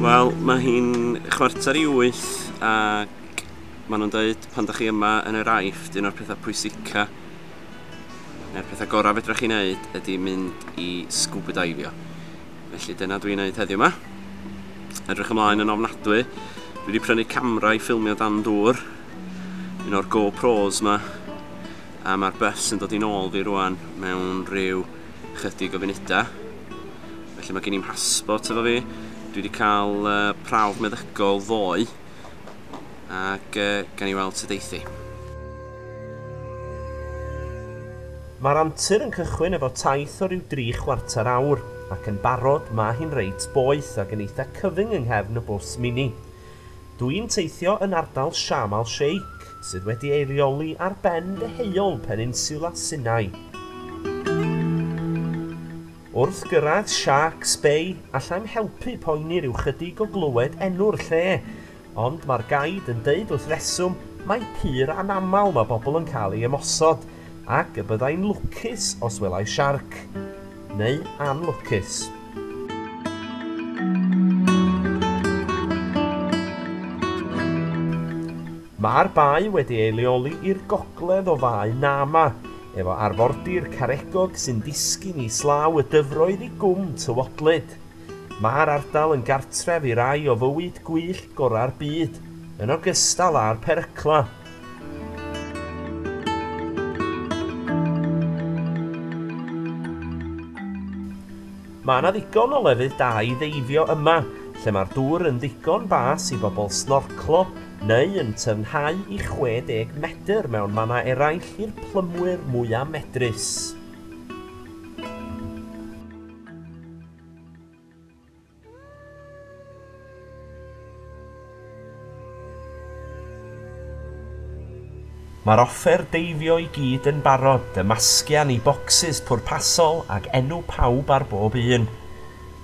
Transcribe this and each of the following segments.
Wel, mae hi'n chwarter i wyth ac maen nhw'n dweud pan da chi yma yn yr aifft, un o'r pethau pwysica neu'r pethau gorau fedrwch chi'n neud ydy mynd i scuba divio. Felly dyna dwi'n neud heddiw yma. Edrych ymlaen yn ofnadwy. Dwi wedi prynu camera i ffilmio dan dŵr, un o'r GoPros yma, a mae'r bus yn dod i'n ôl fi rwan mewn rhyw chydig o funudau. Felly mae gen i'n passport efo fi. Dwi wedi cael uh, prawf meddygol ddoe. Ac uh, gan i weld sydd eithi. Mae'r antur yn cychwyn efo taith o ryw dri chwarter awr, ac yn barod mae hi'n reit boeth ac yn eitha cyfyng yng nghefn y bws mini. Dw i'n teithio yn ardal Sharm al Sheikh, sydd wedi ei reoli ar ben deheuol Peninsula Sinai. Wrth gyrraedd Shark's Bay, allai'm helpu poeni ryw chydig o glywed enw'r lle, ond mae'r gaid yn deud wrth reswm mai pur anaml mae bobl yn cael ei ymosod, ac y byddai'n lwcus os welai siarc. Neu anlwcus. Mae'r bae wedi ei leoli i'r gogledd o Fae Nama, efo arfordir Caregog sy'n disgyn islaw y dyfroedd i Gwm Tywodlyd. Mae'r ardal yn gartref i rai o fywyd gwyllt gorau'r byd, yn ogystal â'r peryclau. Mae yna ddigon o lefydd da i ddeifio yma, lle mae'r dŵr yn ddigon bas i bobl snorclo, neu yn tyfnhau i 60 medr mewn mannau eraill i'r plymwyr mwyaf medrus. Mae'r offer deifio i gyd yn barod, y masgian i bocsys pwrpasol ag enw pawb ar bob un.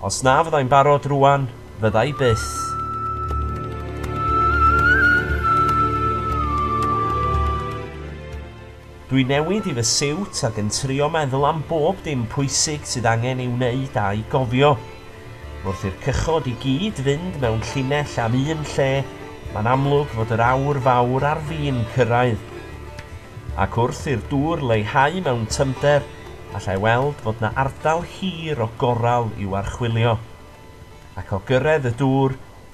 Os na fyddai'n barod rŵan, fyddai byth. Dwi newid i fy siwt ac yn trio meddwl am bob dim pwysig sydd angen ei wneud a'i gofio. Wrth i'r cychod i gyd fynd mewn llinell am un lle, mae'n amlwg fod yr awr fawr ar fin cyrraedd. Ac wrth i'r dŵr leihau mewn tyfnder, allai weld fod 'na ardal hir o goral i'w archwilio. Ac o gyrraedd y dŵr,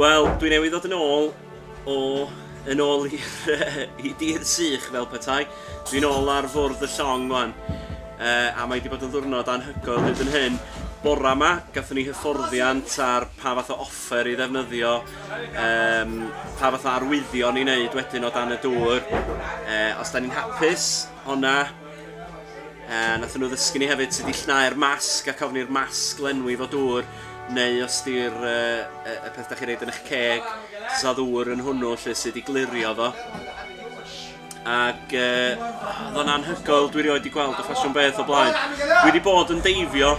Wel, dwi newydd ddod yn ôl o yn ôl i, i dydd sych fel petai. Dwi'n ôl ar fwrdd y llong mwan. Uh, a mae wedi bod yn ddwrnod anhygoel hyd yn hyn. Bora yma, gatho ni hyfforddiant ar pa fath o offer i ddefnyddio um, pa fath o arwyddion i wneud wedyn o dan y dŵr. Uh, os da ni'n hapus, honna, uh, nath nhw ddysgu ni hefyd sydd i llnau'r masg ac ofni'r masg lenwi fo dŵr, neu os di'r uh, y peth da chi'n reid yn eich ceg, sa ddŵr yn hwnnw lle sydd i glirio fo. ac oedd o'n anhygoel, dwi rioed wedi gweld y ffasiwn beth o blaen. Dwi wedi bod yn deifio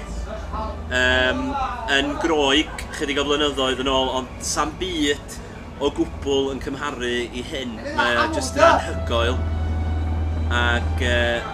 um, yn groeg chydig o flynyddoedd yn ôl, ond sam byd o gwbl yn cymharu i hyn. Mae o jyst yn anhygoel. Ac uh,